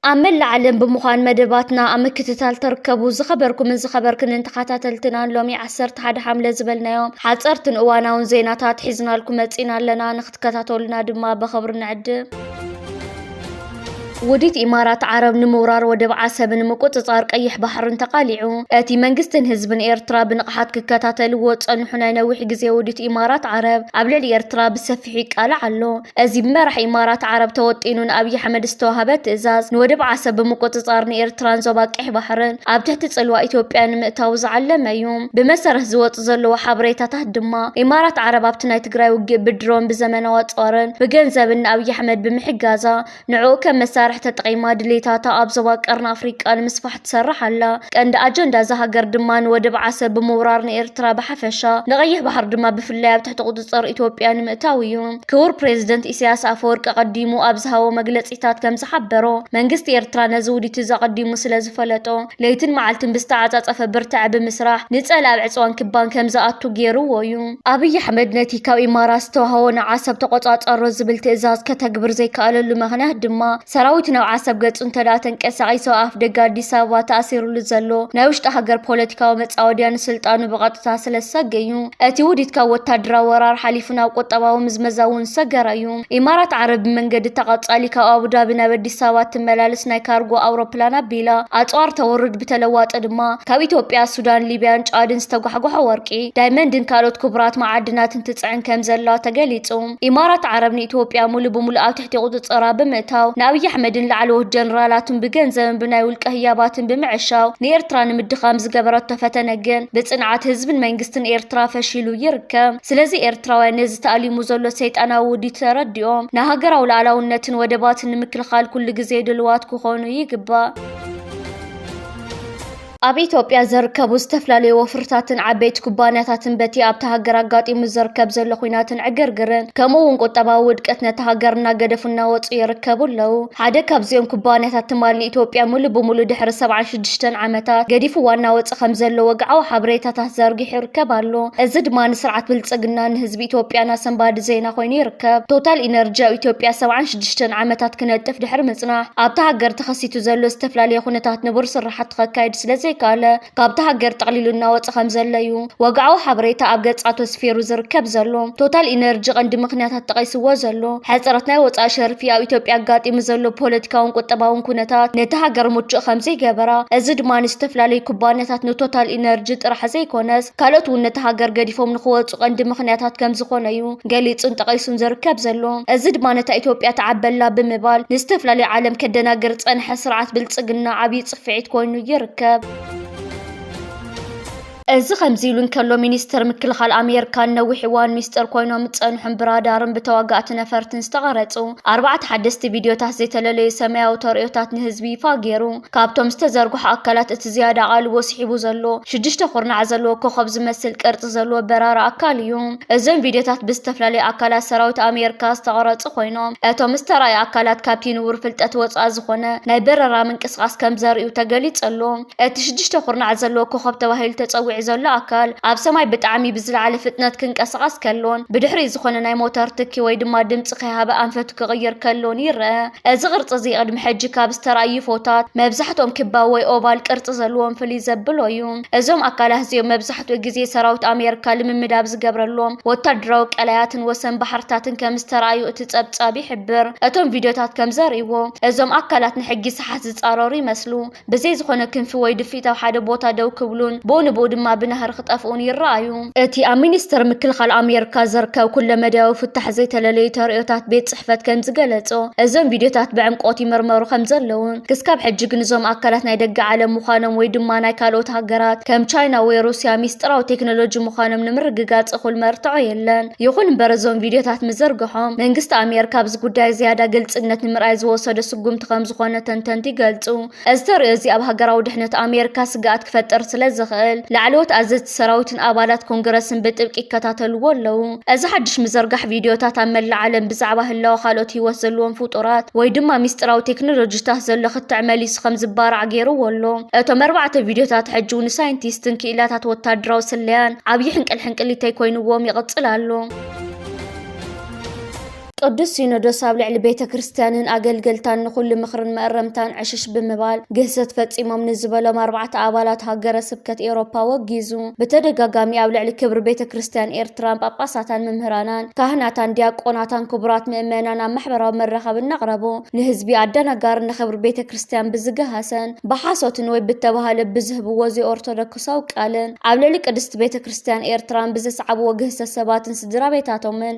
ኣብ መላእ ዓለም ብምዃን መደባትና ኣብ ምክትታል ተርከቡ ዝኸበርኩምን ዝኸበርክንን ተኸታተልትናን ሎሚ 11 ሓምለ ዝበልናዮም ሓፀርትን እዋናውን ዜናታት ሒዝናልኩም መፂና ኣለና። ትከታተሉና ድማ በኸብሪ ንዕድም። ውዲት ኢማራት ዓረብ ንምውራር ወደብ ዓሰብን ምቁጽጻር ቀይሕ ባሕርን ተቓሊዑ። እቲ መንግስትን ህዝብን ኤርትራ ብንቕሓት ክከታተልዎ ዝጸንሑ ናይ ነዊሕ ግዜ ውዲት ኢማራት ዓረብ ኣብ ልዕሊ ኤርትራ ብሰፊሑ ይቃላዕ ኣሎ። እዚ ብመራሒ ኢማራት ዓረብ ተወጢኑ ንኣብይ ኣሕመድ ዝተዋህበ ትእዛዝ ንወደብ ዓሰብ ብምቁጽጻር ንኤርትራን ዞባ ቀይሕ ባሕርን ኣብ ትሕቲ ጽልዋ ኢትዮጵያ ንምእታው ዝዓለመ እዩ። ብመሰረት ዝወጹ ዘለዉ ሓበሬታታት ድማ ኢማራት ዓረብ ኣብቲ ናይ ትግራይ ውግእ ብድሮን፣ ብዘመናዊ ኣጽዋርን ብገንዘብን ንኣብይ ኣሕመድ ብምሕጋዛ ንዕኡ ከም መሳርሒ ተጠቒማ ድሌታታ ኣብ ዞባ ቀርኒ ኣፍሪቃ ንምስፋሕ ትሰርሕ ኣላ። ቀንዲ ኣጀንዳ እዛ ሃገር ድማ ንወደብ ዓሰብ ብምውራር ንኤርትራ ብሓፈሻ ንቐይሕ ባሕሪ ድማ ብፍላይ ኣብ ትሕቲ ቁጽጽር ኢትዮጵያ ንምእታው እዩ። ክቡር ፕረዚደንት ኢሳያስ ኣፈወርቂ ኣቐዲሙ ኣብ ዝሃቦ መግለጺታት ከም ዝሓበሮ መንግስቲ ኤርትራ ነዚ ውዲት'ዚ ኣቐዲሙ ስለ ዝፈለጦ ለይትን መዓልትን ብዝተዓጻጸፈ ብርታዐ ብምስራሕ ንጸል ኣብ ዕጽዋን ክባን ከም ዝኣቱ ገይሩዎ እዩ። ኣብይ ኣሕመድ ነቲ ካብ ኢማራት ዝተዋህቦ ንዓሰብ ተቖጻጸሮ ዝብል ትእዛዝ ከተግብር ዘይከኣለሉ ምኽንያት ድማ ሰራዊት ናብ ዓሰብ ገጹ እንተድኣ ተንቀሳቒሱ ኣብ ኣፍደገ ኣዲስ ኣበባ ተኣሲሩሉ ዘሎ ናይ ውሽጢ ሃገር ፖለቲካዊ መጻወድያ ንስልጣኑ ብቐጥታ ስለ ዝሰገ እዩ። እቲ ውዲት ካብ ወታደራዊ ወራር ሓሊፉ ናብ ቁጠባዊ ምዝመዛ እውን ዝሰገረ እዩ። ኢማራት ዓረብ ብመንገዲ ተቐፃሊ ካብ ኣቡዳቢ ናብ ኣዲስ ኣበባ እትመላለስ ናይ ካርጎ ኣውሮፕላን ኣቢላ ኣፅዋር ተውርድ፣ ብተለዋጢ ድማ ካብ ኢትዮጵያ፣ ሱዳን፣ ሊብያን ጫድን ዝተጓሕጎሖ ወርቂ፣ ዳይመንድን ካልኦት ክቡራት መዓድናትን ትፅዕን ከምዘላ ተገሊፁ። ኢማራት ዓረብ ንኢትዮጵያ ሙሉእ ብሙሉእ ኣብ ትሕቲ ቁፅፅራ ብምእታው ንኣብይ ኣሕመድን ላዕለዎት ጀነራላቱን ብገንዘብን ብናይ ውልቀ ህያባትን ብምዕሻው ንኤርትራ ንምድኻም ዝገበረቶ ፈተነ ግን ብፅንዓት ህዝብን መንግስትን ኤርትራ ፈሺሉ ይርከብ። ስለዚ ኤርትራውያን ነዚ ተኣሊሙ ዘሎ ሰይጣናዊ ውዲት ተረዲኦም ንሃገራዊ ሉዓላውነትን ወደባትን ንምክልኻል ኩሉ ግዜ ድልዋት ክኾኑ ይግባእ። ኣብ ኢትዮጵያ ዝርከቡ ዝተፈላለዩ ወፍርታትን ዓበይቲ ኩባንያታትን በቲ ኣብታ ሃገር ኣጋጢሙ ዝርከብ ዘሎ ኹናትን ዕግርግርን ከምኡ እውን ቁጠባዊ ውድቀት ነታ ሃገር እናገደፉ እናወፁ ይርከቡ ኣለዉ። ሓደ ካብዚኦም ኩባንያታት ትማሊ ኢትዮጵያ ሙሉእ ብሙሉእ ድሕሪ ሰብዓ ሽዱሽተን ዓመታት ገዲፉ ዋና ወፂ ከምዘሎ ወግዓዊ ሓበሬታታት ዘርጊሑ ይርከብ ኣሎ። እዚ ድማ ንስርዓት ብልፅግናን ንህዝቢ ኢትዮጵያን ኣሰንባዲ ዜና ኮይኑ ይርከብ። ቶታል ኢነርጂ ኣብ ኢትዮጵያ ሰብዓን ሽዱሽተን ዓመታት ክነጥፍ ድሕሪ ምፅናሕ ኣብታ ሃገር ተኸሲቱ ዘሎ ዝተፈላለየ ኩነታት ንቡር ስርሓቱ ከካይድ ስለዘይከኣለ ካብታ ሃገር ጠቕሊሉ እናወፀ ከምዘሎ እዩ። ወግዓዊ ሓበሬታ ኣብ ገጻቱ ኣስፊሩ ዝርከብ ዘሎ ቶታል ኢነርጂ ቀንዲ ምኽንያታት ጠቒስዎ ዘሎ ሕጽረት ናይ ወጻኢ ሸርፊ ኣብ ኢትዮጵያ ኣጋጢሙ ዘሎ ፖለቲካውን ቁጠባውን ኩነታት ነቲ ሃገር ምቹእ ከምዘይገበራ እዚ ድማ ንዝተፈላለዩ ኩባንያታት ንቶታል ኢነርጂ ጥራሕ ዘይኮነስ ካልኦት እውን ነቲ ሃገር ገዲፎም ንኽወጹ ቀንዲ ምኽንያታት ከምዝኾነ እዩ ገሊጹን ጠቒሱን ዝርከብ ዘሎ እዚ ድማ ነታ ኢትዮጵያ ትዓበላ ብምባል ንዝተፈላለዩ ዓለም ከደናግር ዝጸንሐ ስርዓት ብልጽግና ዓብይ ጽፍዒት ኮይኑ ይርከብ። እዚ ከምዚ ኢሉ እንከሎ ሚኒስተር ምክልኻል ኣሜርካ ንነዊሕ እዋን ሚስጥር ኮይኖም ዝጸንሑን ብራዳርን ብተዋጋእቲ ነፈርትን ዝተቐረጹ ኣርባዕተ ሓደስቲ ቪድዮታት ዘይተለለዩ ሰማያዊ ተርእዮታት ንህዝቢ ይፋ ገይሩ። ካብቶም ዝተዘርግሑ ኣካላት እቲ ዝያዳ ኣቓልቦ ስሒቡ ዘሎ ሽዱሽተ ኩርናዕ ዘለዎ ኮኾብ ዝመስል ቅርጺ ዘለዎ በራሪ ኣካል እዩ። እዞም ቪድዮታት ብዝተፈላለዩ ኣካላት ሰራዊት ኣሜርካ ዝተቐረጹ ኮይኖም እቶም ዝተራእዩ ኣካላት ካብቲ ንቡር ፍልጠት ወጻኢ ዝኾነ ናይ በረራ ምንቅስቓስ ከምዘርእዩ ተገሊጹ ኣሎ። እቲ ሽዱሽተ ኩርናዓት ዘለዎ ኮኾብ ተባሂሉ ተጸዊዑ ዘሎ ኣካል፣ ኣብ ሰማይ ብጣዕሚ ብዝለዓለ ፍጥነት ክንቀሳቐስ ከሎን ብድሕሪኡ ዝኾነ ናይ ሞተር ትኪ ወይ ድማ ድምጺ ከይሃበ ኣንፈቱ ክቕይር ከሎን ይረኣ። እዚ ቅርጺ እዚ ቅድሚ ሕጂ ካብ ዝተራእዩ ዩፎታት መብዛሕትኦም ክባብ ወይ ኦቫል ቅርጺ ዘለዎም ፍልይ ዘብሎ እዩ። እዞም ኣካላት እዚኦም መብዛሕትኡ ግዜ ሰራዊት ኣሜሪካ ልምምድ ኣብ ዝገብረሎም ወታደራዊ ቀላያትን ወሰን ባሕርታትን ከም ዝተራእዩ እቲ ጸብጻብ ይሕብር። እቶም ቪድዮታት ከም ዘርእይዎ፣ እዞም ኣካላት ንሕጊ ሰሓት ዝጻረሩ ይመስሉ። ብዘይ ዝኾነ ክንፊ ወይ ድፍኢት ኣብ ሓደ ቦታ ደው ክብሉን ብኡ ንብኡ ድማ ብናህሪ ክጠፍኡን ይረኣዩ። እቲ ኣብ ሚኒስተር ምክልኻል ኣሜርካ ዝርከብ ኩለመዳያዊ ፍታሕ ዘይተለለዩ ተርእዮታት ቤት ጽሕፈት ከም ዝገለጾ፣ እዞም ቪድዮታት ብዕምቆት ይምርመሩ ከም ዘለዉን ክስካብ ሕጂ ግን እዞም ኣካላት ናይ ደገ ዓለም ምዃኖም ወይ ድማ ናይ ካልኦት ሃገራት ከም ቻይና ወይ ሩስያ ሚስጥራዊ ቴክኖሎጂ ምዃኖም ንምርግጋጽ እኹል መርትዖ የለን። ይኹን እምበር እዞም ቪድዮታት ምዝርግሖም መንግስቲ ኣሜርካ ኣብዚ ጉዳይ ዝያዳ ግልጽነት ንምርኣይ ዝወሰዶ ስጉምቲ ከምዝኾነ ተንተንቲ ይገልጹ። እዚ ተርእዮ'ዚ ኣብ ሃገራዊ ድሕነት ኣሜሪካ ስግኣት ክፈጥር ስለዝኽእል፣ ላዕለዎት ኣዘዝቲ ሰራዊትን ኣባላት ኮንግረስን ብጥብቂ ይከታተልዎ ኣለዉ። እዚ ሓድሽ ምዝርጋሕ ቪድዮታት ኣብ መላእ ዓለም ብዛዕባ ህላወ ካልኦት ህይወት ዘለዎም ፍጡራት ወይ ድማ ሚስጢራዊ ቴክኖሎጂታት ዘሎ ክትዕ መሊሱ ከምዝባራዕ ገይርዎ ኣሎ። እቶም ኣርባዕተ ቪድዮታት ሕጂ'ውን ንሳይንቲስትን ክኢላታት ወተሃደራዊ ስለያን ዓብዪ ሕንቅልሕንቅሊተይ ኮይንዎም ይቕጽል ኣሎ። ቅዱስ ሲኖዶስ ኣብ ልዕሊ ቤተ ክርስቲያንን ኣገልገልታን ንኹሉ ምኽርን መእረምታን ዕሽሽ ብምባል ግህሰት ፈጺሞም ንዝበሎም ኣርባዕተ ኣባላት ሃገረ ስብከት ኤውሮፓ ወጊዙ ብተደጋጋሚ ኣብ ልዕሊ ክብሪ ቤተ ክርስቲያን ኤርትራን ጳጳሳታን መምህራናን ካህናታን ዲያቆናታን ክቡራት ምእመናን ኣብ ማሕበራዊ መራኸቢ እናቕረቡ ንህዝቢ ኣደናጋሪ ንኽብሪ ቤተ ክርስቲያን ብዝገሃሰን ብሓሶትን ወይ ብተባህለ ብዝህብዎ ዘይኦርቶዶክሳዊ ቃልን ኣብ ልዕሊ ቅድስቲ ቤተ ክርስቲያን ኤርትራን ብዘስዓብዎ ግህሰት ሰባትን ስድራቤታቶምን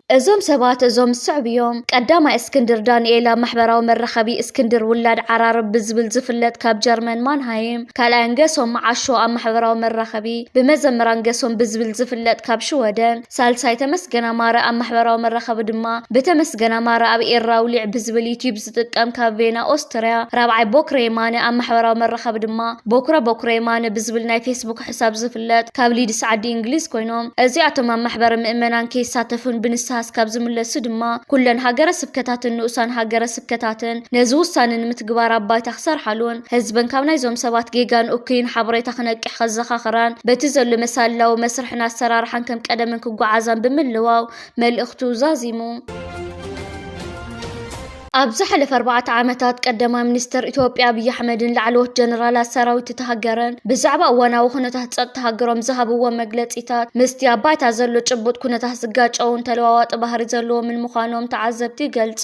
እዞም ሰባት እዞም ዝስዕቡ እዮም። ቀዳማይ እስክንድር ዳንኤል ኣብ ማሕበራዊ መራኸቢ እስክንድር ውላድ ዓራርብ ብዝብል ዝፍለጥ ካብ ጀርመን ማንሃይም። ካልኣይ ገሶም መዓሾ ኣብ ማሕበራዊ መራኸቢ ብመዘምራን ገሶም ብዝብል ዝፍለጥ ካብ ሽወደን። ሳልሳይ ተመስገን ኣማረ ኣብ ማሕበራዊ መራኸቢ ድማ ብተመስገን ኣማረ ኣብ ኤርራውሊዕ ብዝብል ዩትዩብ ዝጥቀም ካብ ቬና ኦስትርያ፣ ራብዓይ ቦክረየማነ ኣብ ማሕበራዊ መራኸቢ ድማ ቦኩረ ቦኩረየማነ ብዝብል ናይ ፌስቡክ ሕሳብ ዝፍለጥ ካብ ሊድስ ዓዲ እንግሊዝ ኮይኖም እዚኣቶም ኣብ ማሕበረ ምእመናን ከይሳተፉን ብንስሃ እስካብ ዝምለሱ ድማ ኩለን ሃገረ ስብከታትን ንኡሳን ሃገረ ስብከታትን ነዚ ውሳነ ንምትግባር ኣብ ባይታ ክሰርሓሉን ህዝበን ካብ ናይዞም ሰባት ጌጋን እኩይን ሓበሬታ ክነቅሕ ከዘኻኽራን በቲ ዘሎ መሳልላዊ መስርሕን ኣሰራርሓን ከም ቀደመን ክጓዓዛን ብምልዋው መልእኽቱ ዛዚሙ። ኣብ ዝሓለፈ ኣርባዕተ ዓመታት ቀዳማይ ሚኒስተር ኢትዮጵያ ኣብይ ኣሕመድን ላዕለዎት ጀነራላት ሰራዊት እታ ሃገርን ብዛዕባ እዋናዊ ኩነታት ጸጥታ ሃገሮም ዝሃብዎ መግለጺታት ምስቲ ኣብ ባይታ ዘሎ ጭቡጥ ኩነታት ዝጋጨውን ተለዋዋጢ ባህሪ ዘለዎምን ምዃኖም ተዓዘብቲ ይገልጹ።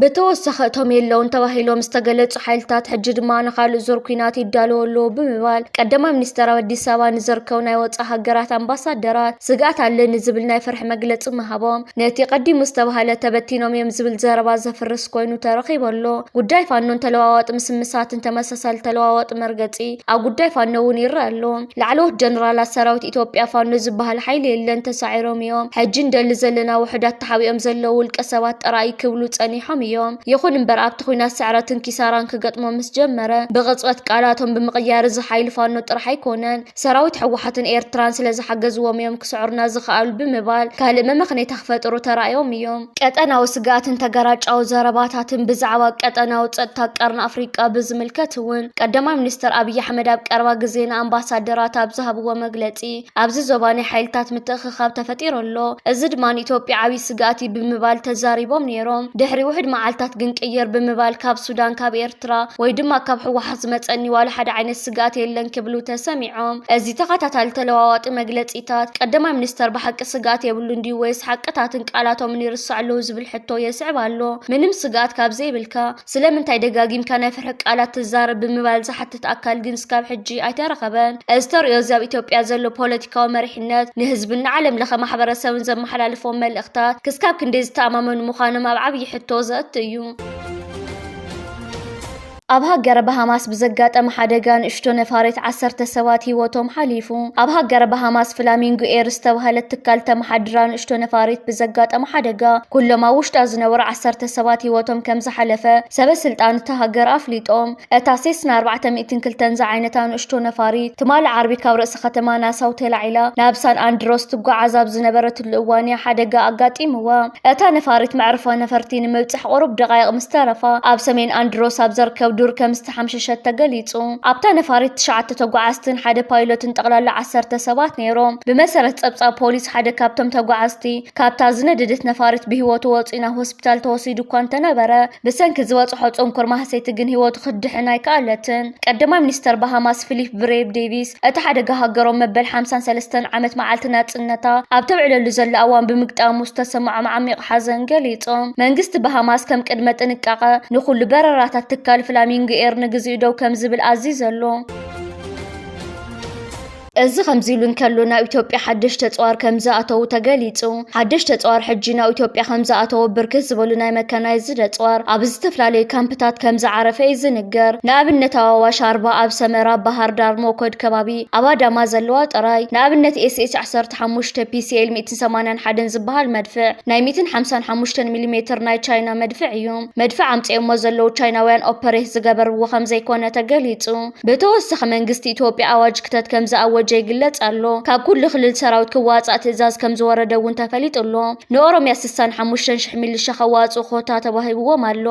ብተወሳኺ እቶም የለዉን ተባሂሎም ዝተገለፁ ሓይልታት ሕጂ ድማ ንኻልእ ዙር ኲናት ይዳለዉ ኣለዉ ብምባል ቀዳማይ ሚኒስትር ኣብ ኣዲስ ኣበባ ንዝርከቡ ናይ ወፃኢ ሃገራት ኣምባሳደራት ስግኣት ኣለኒ ዝብል ናይ ፍርሒ መግለፂ ምሃቦም ነቲ ቀዲሙ ዝተባህለ ተበቲኖም እዮም ዝብል ዘረባ ዘፍርስ ኮይኑ ተረኺቡ ኣሎ። ጉዳይ ፋኖን ተለዋዋጢ ምስምሳትን ተመሳሳሊ ተለዋዋጢ መርገፂ ኣብ ጉዳይ ፋኖ እውን ይረኣ ኣሎ። ላዕለዎት ጀነራላት ሰራዊት ኢትዮጵያ ፋኖ ዝበሃል ሓይሊ የለን ተሳዒሮም እዮም፣ ሕጂ ንደሊ ዘለና ውሑዳት ተሓቢኦም ዘለዉ ውልቀ ሰባት ጥራይ ክብሉ ጸኒሖም እዮም። ይኹን እምበር ኣብቲ ኲናት ስዕረትን ኪሳራን ክገጥሞም ምስ ጀመረ ብቕጽበት ቃላቶም ብምቕያር እዚ ሓይሊ ፋኖ ጥራሕ ኣይኮነን ሰራዊት ህወሓትን ኤርትራን ስለ ዝሓገዝዎም እዮም ክስዕሩና ዝኸኣሉ ብምባል ካልእ መመኽነይታ ክፈጥሩ ተራእዮም እዮም። ቀጠናዊ ስግኣትን ተገራጫዊ ዘረባታትን፣ ብዛዕባ ቀጠናዊ ጸጥታ ቀርኒ ኣፍሪቃ ብዝምልከት እውን ቀዳማይ ሚኒስተር ኣብይ ኣሕመድ ኣብ ቀረባ ግዜ ንኣምባሳደራት ኣብ ዝሃብዎ መግለጺ፣ ኣብዚ ዞባ ናይ ሓይልታት ምትእኽኻብ ተፈጢሩ ኣሎ፣ እዚ ድማ ንኢትዮጵያ ዓብዪ ስግኣት እዩ ብምባል ተዛሪቦም ነይሮም። ድሕሪ ውሑድ መዓልታት ግን ቅይር ብምባል ካብ ሱዳን፣ ካብ ኤርትራ ወይ ድማ ካብ ህወሓት ዝመፀኒ ዋላ ሓደ ዓይነት ስግኣት የለን ክብሉ ተሰሚዖም። እዚ ተኸታታሊ ተለዋዋጢ መግለፂታት ቀዳማይ ሚኒስተር ብሓቂ ስግኣት የብሉን ድዩ ወይስ ሓቅታትን ቃላቶምን ይርስዑ ኣለዉ ዝብል ሕቶ የስዕብ ኣሎ። ምንም ስግኣት ካብ ዘይብልካ፣ ስለምንታይ ደጋጊምካ ናይ ፍርሒ ቃላት ትዛረብ ብምባል ዝሓትት ኣካል ግን እስካብ ሕጂ ኣይተረኸበን። እዚ ተርእዮ እዚ ኣብ ኢትዮጵያ ዘሎ ፖለቲካዊ መሪሕነት ንህዝብን ንዓለም ለኸ ማሕበረሰብን ዘመሓላልፎም መልእኽታት ክስካብ ክንደይ ዝተኣማመኑ ምዃኖም ኣብ ዓብዪ ሕቶ ዘእቱ እዩ። ኣብ ሃገረ ባሃማስ ብዘጋጠመ ሓደጋ ንእሽቶ ነፋሪት ዓሰርተ ሰባት ህይወቶም ሓሊፉ። ኣብ ሃገረ ባሃማስ ፍላሚንጎ ኤር ዝተባህለት ትካል ተመሓድራ ንእሽቶ ነፋሪት ብዘጋጠመ ሓደጋ ኩሎም ኣብ ውሽጣ ዝነበሩ ዓሰርተ ሰባት ህይወቶም ከም ዝሓለፈ ሰበ ስልጣን እታ ሃገር ኣፍሊጦም። እታ ሴስና ኣርባዕተ ሚእትን ክልተን ዝዓይነታ ንእሽቶ ነፋሪት፣ ትማሊ ዓርቢ ካብ ርእሲ ከተማ ናሳው ተላዒላ ናብ ሳን ኣንድሮስ ትጓዓዝ ኣብ ዝነበረትሉ እዋን እያ ሓደጋ ኣጋጢምዋ። እታ ነፋሪት መዕርፎ ነፈርቲ ንምብጻሕ ቁሩብ ደቓይቕ ምስ ተረፋ ኣብ ሰሜን ኣንድሮስ ኣብ ዘርከብ ዱር ከም ከምዝተሓምሸሸት ተገሊጹ። ኣብታ ነፋሪት ትሽዓተ ተጓዓዝትን ሓደ ፓይሎትን ጠቕላላ ዓሰርተ ሰባት ነይሮም። ብመሰረት ጸብጻብ ፖሊስ፣ ሓደ ካብቶም ተጓዓዝቲ ካብታ ዝነደደት ነፋሪት ብህይወቱ ወጺኡ ናብ ሆስፒታል ተወሲዱ እኳ እንተነበረ፣ ብሰንኪ ዝበጽሖ ጽንኩር ማህሰይቲ ግን ህይወቱ ክትድሕን ኣይከኣለትን። ቀዳማይ ሚኒስተር ባሃማስ ፊሊፕ ብሬብ ዴቪስ፣ እቲ ሓደጋ ሃገሮም መበል ሓምሳን ሰለስተን ዓመት መዓልቲ ናጽነታ ኣብ ተብዕለሉ ዘላ እዋን ብምግጣሙ ዝተሰምዖም ዓሚቕ ሓዘን ገሊጾም፣ መንግስቲ ባሃማስ ከም ቅድመ ጥንቃቐ ንኹሉ በረራታት ትካል ፍላሚንጎ ኤር ንግዚኡ ደው ከም ዝብል ኣዚዙ ኣሎ። እዚ ከምዚ ኢሉ እንከሎ፣ ናብ ኢትዮጵያ ሓደሽቲ ኣጽዋር ከም ዝኣተዉ ተገሊጹ። ሓደሽቲ ኣፅዋር ሕጂ ናብ ኢትዮጵያ ከምዝኣተወ ብርክት ዝበሉ ናይ መካናይዝድ ኣፅዋር ኣብ ዝተፈላለዩ ካምፕታት ከምዝዓረፈ እዩ ዝንገር። ንኣብነት ኣብ ኣዋሽ ኣርባ፣ ኣብ ሰመራ፣ ባህርዳር፣ ሞኮድ ከባቢ፣ ኣብ ኣዳማ ዘለዋ ጥራይ። ንኣብነት ኤስኤች ዓሰርተ ሓሙሽተ፣ ፒሲኤል ሚእትን ሰማንያን ሓደን ዝበሃል መድፍዕ ናይ ሚእትን ሓምሳን ሓሙሽተን ሚሊ ሜትር ናይ ቻይና መድፍዕ እዩ። መድፍዕ ኣምፂኦሞ ዘለዉ ቻይናውያን ኦፐሬት ዝገበርዎ ከምዘይኮነ ተገሊፁ። ብተወሳኺ መንግስቲ ኢትዮጵያ ኣዋጅ ክተት ከምዝኣወጀ ይግለፅ ኣሎ። ካብ ኩሉ ክልል ሰራዊት ክዋፃእ ትእዛዝ ከምዝወረደ እውን ተፈሊጡ ኣሎ። ንኦሮሚያ ስሳን ሓሙሽተን ሽሕ ሚሊሻ ከዋፅኡ ኮታ ተዋሂብዎም ኣሎ።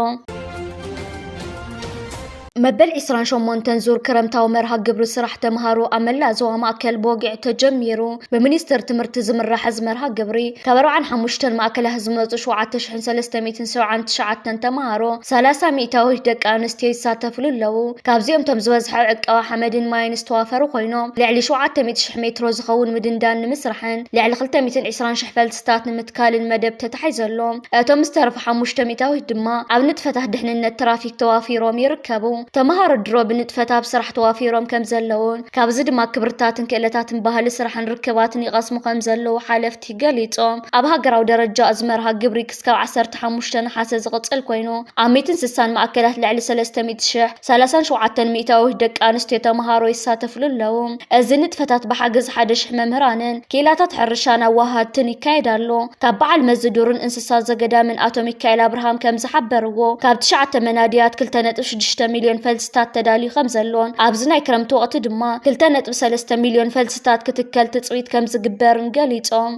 መበል ዕስራን ሸሞንተን ዙር ክረምታዊ መርሃ ግብሪ ስራሕ ተምሃሮ ኣብ መላእ ዞባ ማእከል ብወግዒ ተጀሚሩ። ብሚኒስትር ትምህርቲ ዝምራሕ እዚ መርሃ ግብሪ ካብ ኣርብዓን ሓሙሽተን ማእከላት ዝመፁ ሸውዓተ ሽሕን ሰለስተ ሚእትን ሰብዓን ትሽዓተን ተምሃሮ ሰላሳ ሚእታዊት ደቂ ኣንስትዮ ይሳተፍሉ ኣለዉ። ካብዚኦም እቶም ዝበዝሐ ኣብ ዕቀባ ሓመድን ማይን ዝተዋፈሩ ኮይኖም ልዕሊ ሸውዓተ ሚእቲ ሽሕ ሜትሮ ዝኸውን ምድንዳን ንምስራሕን ልዕሊ ክልተ ሚእትን ዕስራን ሽሕ ፈልስታት ንምትካልን መደብ ተታሒዙ ኣሎ። እቶም ዝተረፉ ሓሙሽተ ሚእታዊት ድማ ኣብ ንጥፈታት ድሕንነት ትራፊክ ተዋፊሮም ይርከቡ። ተምሃሮ ድሮ ብንጥፈት ኣብ ስራሕ ተዋፊሮም ከምዘለዉ ካብዚ ድማ ክብርታትን ክእለታትን ባህሊ ስራሕን ርክባትን ይቐስሙ ከም ዘለዉ ሓለፍቲ ገሊፆም። ኣብ ሃገራዊ ደረጃ እዚ መርሃ ግብሪ ክስካብ ዓሰርተ ሓሙሽተ ነሓሰ ዝቕፅል ኮይኑ ኣብ ሚእትን ስሳን ማእከላት ልዕሊ ሰለስተ ሚእቲ ሽሕ፣ ሰላሳን ሸውዓተን ሚእታዊት፣ ደቂ ኣንስትዮ ተምሃሮ ይሳተፍሉ ኣለዉ። እዚ ንጥፈታት ብሓገዝ ሓደ ሽሕ መምህራንን ክኢላታት ሕርሻን ኣወሃሃድትን ይካየድ ኣሎ። ካብ በዓል መዚ ዱርን እንስሳን፣ እንስሳ ዘገዳምን ኣቶ ሚካኤል ኣብርሃም ከም ዝሓበርዎ፣ ካብ ትሽዓተ መናድያት ክልተ ነጥቢ ሽዱሽተ ሚልዮን ፈልስታት ተዳልዩ ከም ዘሎን ኣብዚ ናይ ክረምቲ ወቕቲ ድማ ክልተ ነጥቢ ሰለስተ ሚልዮን ፈልስታት ክትከል ትጽቢት ከም ዝግበርን ገሊጾም።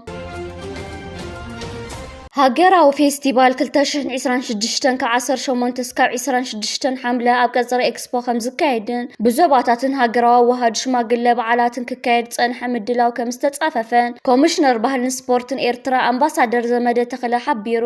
ሃገራዊ ፌስቲቫል ክልተ ሽሕን ዒስራን ሽዱሽተን ካብ ዓሰርተ ሸሞንተ እስካብ ዒስራን ሽዱሽተን ሓምለ ኣብ ቀጽሪ ኤክስፖ ከምዝካየድን ብዞባታትን ሃገራዊ ኣዋሃዱ ሽማግለ በዓላትን ክካየድ ዝፀንሐ ምድላው ከምዝተፃፈፈን ኮሚሽነር ባህልን ስፖርትን ኤርትራ ኣምባሳደር ዘመደ ተኽለ ሓቢሩ።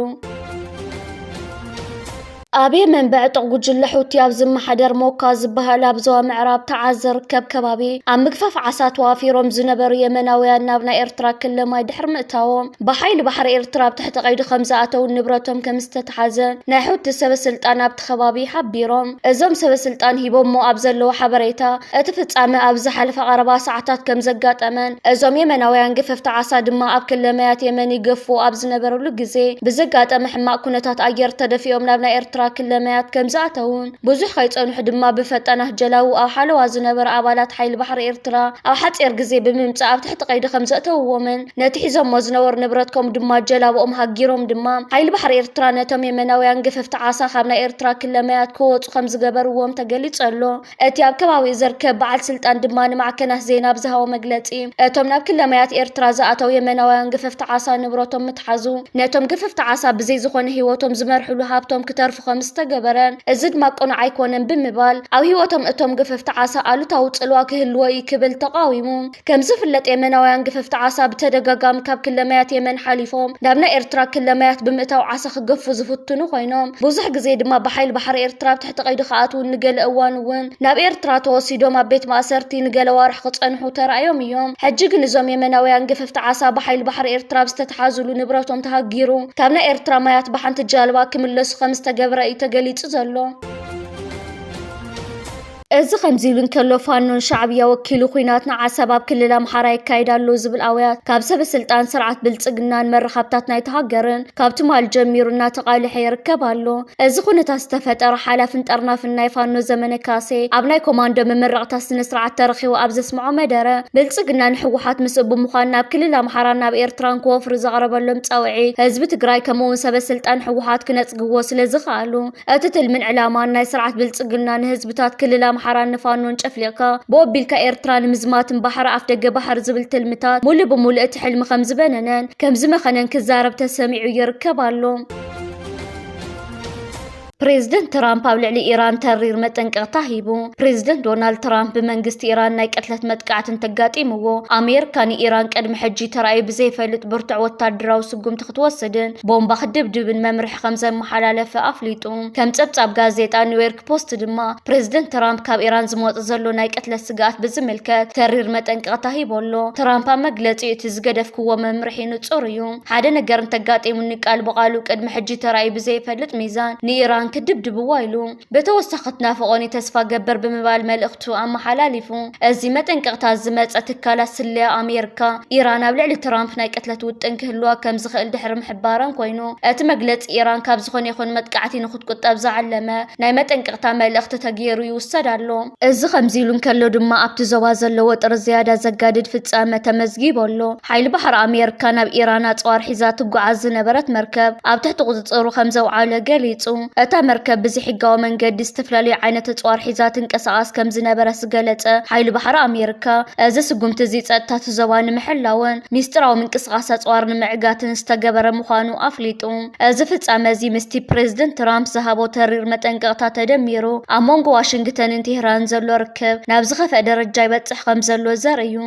ኣብየ መንበዐ ጥቕ ጉጅለ ሑቲ ኣብ ዝመሓደር ሞካ ዝበሃል ኣብ ዞባ ምዕራብ ተዓዝ ዝርከብ ከባቢ ኣብ ምግፋፍ ዓሳ ተዋፊሮም ዝነበሩ የመናውያን ናብ ናይ ኤርትራ ክለ ማይ ድሕሪ ምእታዎም ብሓይሊ ባሕሪ ኤርትራ ኣብ ትሕቲ ቀይዲ ከምዝኣተውን ንብረቶም ከምዝተተሓዘን ናይ ሑቲ ሰበስልጣን ኣብ እቲ ከባቢ ሓቢሮም። እዞም ሰበስልጣን ሂቦሞ ኣብ ዘለዉ ሓበሬታ፣ እቲ ፍጻመ ኣብ ዝሓለፈ ቀረባ ሰዓታት ከምዘጋጠመን፣ እዞም የመናውያን ገፈፍቲ ዓሳ ድማ ኣብ ክለ ማያት የመን ይገፉ ኣብ ዝነበርሉ ግዜ ብዘጋጠመ ሕማቕ ኩነታት ኣየር ተደፊኦም ናብ ናይ ኤርትራ ክለ ማያት ከምዝኣተዉን ብዙሕ ከይጸንሑ ድማ ብፈጣናት ጀላቡ ኣብ ሓለዋ ዝነበሩ ኣባላት ሓይሊ ባሕሪ ኤርትራ ኣብ ሓጺር ግዜ ብምምጻእ ኣብ ትሕቲ ቀይዲ ከምዘእተዉዎምን ነቲ ሒዞሞ ዝነበሩ ንብረት ከምኡ ድማ ጀላብኦም ሃጊሮም ድማ ሓይሊ ባሕሪ ኤርትራ ነቶም የመናውያን ገፈፍቲ ዓሳ ካብ ናይ ኤርትራ ክለ ማያት ክወጹ ከም ዝገበርዎም ተገሊጹ ኣሎ። እቲ ኣብ ከባቢኡ ዝርከብ በዓል ስልጣን ድማ ንማዕከናት ዜና ኣብ ዝሃቦ መግለጺ እቶም ናብ ክለ ማያት ኤርትራ ዝኣተው የመናውያን ገፈፍቲ ዓሳ ንብረቶም ምትሓዙ ነቶም ገፈፍቲ ዓሳ ብዘይ ዝኾነ ህይወቶም ዝመርሕሉ ሃብቶም ክተርፉ ከም ዝተገበረ እዚ ድማ ቅኑዕ ኣይኮነን ብምባል ኣብ ህይወቶም እቶም ገፈፍቲ ዓሳ ኣሉታዊ ጽልዋ ክህልዎ እዩ ክብል ተቓዊሙ። ከም ዝፍለጥ የመናውያን ግፈፍቲ ዓሳ ብተደጋጋሚ ካብ ክለ ማያት የመን ሓሊፎም ናብ ናይ ኤርትራ ክለ ማያት ብምእታው ዓሳ ክገፉ ዝፍትኑ ኮይኖም ብዙሕ ግዜ ድማ ብሓይሊ ባሕሪ ኤርትራ ኣብ ትሕቲ ቀይዲ ክኣትዉን ንገለ እዋን እውን ናብ ኤርትራ ተወሲዶም ኣብ ቤት ማእሰርቲ ንገለ ኣዋርሕ ክጸንሑ ተራእዮም እዮም። ሕጂ ግን እዞም የመናውያን ግፈፍቲ ዓሳ ብሓይሊ ባሕሪ ኤርትራ ኣብ ዝተትሓዙሉ ንብረቶም ተሃጊሩ ካብ ናይ ኤርትራ ማያት ብሓንቲ ጃልባ ክምለሱ ከም ዝተገብረ እዩ ተገሊጹ ዘሎ። እዚ ከምዚ ኢሉ እንከሎ ፋኖ ንሻዕብያ ወኪሉ ኹናት ንዓሰብ ኣብ ክልል ኣምሓራ የካይድ ኣሎ ዝብል ኣውያት ካብ ሰበስልጣን ስርዓት ብልፅግናን መራኸብታት ናይታ ሃገርን ካብ ትማሊ ጀሚሩ እናተቓልሐ ይርከብ ኣሎ። እዚ ኹነታት ዝተፈጠረ ሓላፍን ጠርናፍን ናይ ፋኖ ዘመነ ካሴ ኣብ ናይ ኮማንዶ መመረቕታ ስነስርዓት ተረኺቡ ኣብ ዘስመዖ መደረ ብልፅግና ንህወሓት ምስኡ ብምዃን ናብ ክልል ኣምሓራን ናብ ኤርትራን ክወፍሩ ዘቕረበሎም ፃውዒት ህዝቢ ትግራይ ከምኡ'ውን ሰበስልጣን ህወሓት ክነፅግዎ ስለዝኸኣሉ እቲ ትልምን ዕላማን ናይ ስርዓት ብልፅግና ንህዝብታት ክልል ኣምሓራን ንፋኖን ጨፍሊቕካ ብኦቢልካ ኤርትራ ንምዝማትን ባሕሪ ኣፍደገ ባሕሪ ዝብል ትልምታት ሙሉእ ብሙሉእ እቲ ሕልሚ ከምዝበነነን ከምዝመኸነን ክዛረብ ተሰሚዑ ይርከብ ኣሎ። ፕሬዝደንት ትራምፕ ኣብ ልዕሊ ኢራን ተሪር መጠንቀቕታ ሂቡ። ፕሬዝደንት ዶናልድ ትራምፕ ብመንግስቲ ኢራን ናይ ቅትለት መጥቃዕቲ እንተጋጢምዎ ኣሜሪካ ንኢራን ቅድሚ ሕጂ ተራእዩ ብዘይፈልጥ ብርቱዕ ወታደራዊ ስጉምቲ ክትወስድን ቦምባ ክትድብድብን መምርሒ ከም ዘመሓላለፈ ኣፍሊጡ። ከም ጸብጻብ ጋዜጣ ኒውዮርክ ፖስት ድማ ፕሬዝደንት ትራምፕ ካብ ኢራን ዝመጽእ ዘሎ ናይ ቅትለት ስግኣት ብዝምልከት ተሪር መጠንቀቕታ ሂቡ ኣሎ። ትራምፕ ኣብ መግለጺኡ እቲ ዝገደፍክዎ መምርሒ ንጹር እዩ፣ ሓደ ነገር እንተጋጢሙኒ ቃል ብቓሉ ቅድሚ ሕጂ ተራእዩ ብዘይፈልጥ ሚዛን ንኢራን ክድብድብዋ ኢሉ። ብተወሳኺ ትናፍቖኒ ተስፋ ገበር ብምባል መልእኽቱ ኣመሓላሊፉ። እዚ መጠንቀቕታ ዝመጸ ትካላት ስለያ ኣሜርካ፣ ኢራን ኣብ ልዕሊ ትራምፕ ናይ ቅትለት ውጥን ክህልዋ ከም ዝኽእል ድሕሪ ምሕባረን ኮይኑ፣ እቲ መግለጺ ኢራን ካብ ዝኾነ ይኹን መጥቃዕቲ ንኽትቁጠብ ዝዓለመ ናይ መጠንቀቕታ መልእኽቲ ተገይሩ ይውሰድ ኣሎ። እዚ ከምዚ'ሉ እንከሎ ድማ ኣብቲ ዞባ ዘሎ ወጥሪ ዝያዳ ዘጋድድ ፍጻመ ተመዝጊቡ ኣሎ። ሓይሊ ባሕሪ ኣሜርካ ናብ ኢራን ኣጽዋር ሒዛ ትጓዓዝ ዝነበረት መርከብ ኣብ ትሕቲ ቁጽጽሩ ከምዘውዓለ ገሊጹ። እታ መርከብ ብዘይሕጋዊ መንገዲ ዝተፈላለዩ ዓይነት ኣጽዋር ሒዛ ትንቀሳቐስ ከምዝነበረት ዝገለጸ ሓይሊ ባሕሪ ኣሜርካ፣ እዚ ስጉምቲ'ዚ ጸጥታ'ቲ ዞባ ንምሕላውን ሚስጢራዊ ምንቅስቓስ ኣጽዋር ንምዕጋትን ዝተገበረ ምዃኑ ኣፍሊጡ። እዚ ፍጻመ እዚ ምስቲ ፕረዚደንት ትራምፕ ዝሃቦ ተሪር መጠንቀቕታ ተደሚሩ፣ ኣብ መንጎ ዋሽንግተንን ቴህራንን ዘሎ ርክብ ናብ ዝኸፍኣ ደረጃ ይበጽሕ ከምዘሎ ዘርኢ'ዩ።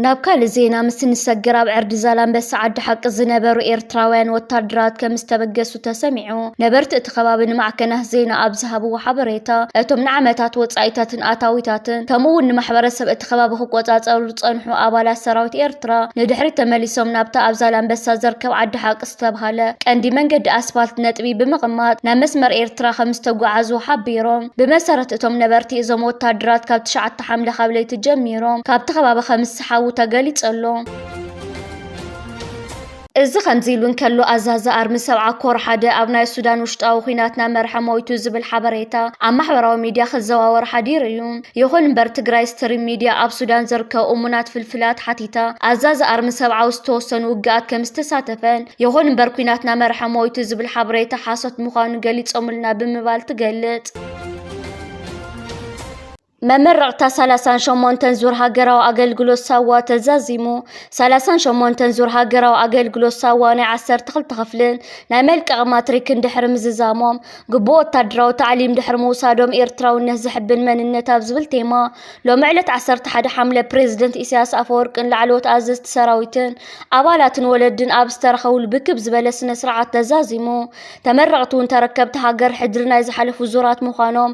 ናብ ካልእ ዜና ምስ እንሰግር ኣብ ዕርዲ ዛላንበሳ ዓዲ ሓቂ ዝነበሩ ኤርትራውያን ወታደራት ከም ዝተበገሱ ከምዝተበገሱ ተሰሚዑ። ነበርቲ እቲ ከባቢ ንማዕከናት ዜና ኣብ ዝሃብዎ ሓበሬታ፣ እቶም ንዓመታት ወጻኢታትን ኣታዊታትን ከምኡ'ውን ንማሕበረሰብ እቲ ከባቢ ክቆጻጸሩ ዝጸንሑ ኣባላት ሰራዊት ኤርትራ ንድሕሪት ተመሊሶም ናብታ ኣብ ዛላምበሳ ዝርከብ ዓዲ-ሓቂ ዝተብሃለ ቀንዲ መንገዲ ኣስፋልት ነጥቢ ብምቕማጥ ናብ መስመር ኤርትራ ከምዝተጓዓዙ ሓቢሮም። ብመሰረት እቶም ነበርቲ እዞም ወተሃደራት ካብ ትሽዓተ ሓምለ ካብ ለይቲ ጀሚሮም ካብቲ ከባቢ ከምዝሰሓቡ ተገሊጹ'ሎ። እዚ ከምዚ ኢሉ እንከሎ ኣዛዚ ኣርሚ ሰብዓ ኮር ሓደ ኣብ ናይ ሱዳን ውሽጣዊ ኲናት ናመርሐ ሞይቱ ዝብል ሓበሬታ ኣብ ማሕበራዊ ሚድያ ክዘዋወር ሓዲሩ እዩ። ይኹን እምበር ትግራይ ስትሪም ሚድያ ኣብ ሱዳን ዝርከቡ እሙናት ፍልፍላት ሓቲታ ኣዛዚ ኣርሚ ሰብዓ ኣብ ዝተወሰኑ ውግኣት ከምዝተሳተፈን ይኹን እምበር ኲናት ናመርሐ ሞይቱ ዝብል ሓበሬታ ሓሶት ምዃኑ ገሊፆምልና ብምባል ትገልፅ። መመረቕታ ሰላሳን ሸሞንተን ዙር ሃገራዊ ኣገልግሎት ሳዋ ተዛዚሙ። ሰላሳን ሸሞንተን ዙር ሃገራዊ ኣገልግሎት ሳዋ ናይ ዓሰርተ ክልተ ክፍልን ናይ መልቀቒ ማትሪክን ድሕሪ ምዝዛሞም፣ ግቡእ ወታደራዊ ታዕሊም ድሕሪ ምውሳዶም ኤርትራውነት ዘሕብን መንነት ኣብ ዝብል ቴማ ሎሚ ዕለት ዓሰርተ ሓደ ሓምለ ፕረዚደንት ኢሳያስ ኣፈወርቅን ላዕለዎት ኣዘዝቲ ሰራዊትን ኣባላትን ወለድን ኣብ ዝተረኸብሉ ብክብ ዝበለ ስነ-ስርዓት ተዛዚሙ። ተመረቕቲ'ውን ተረከብቲ ሃገር ሕድሪ ናይ ዝሓለፉ ዙራት ምዃኖም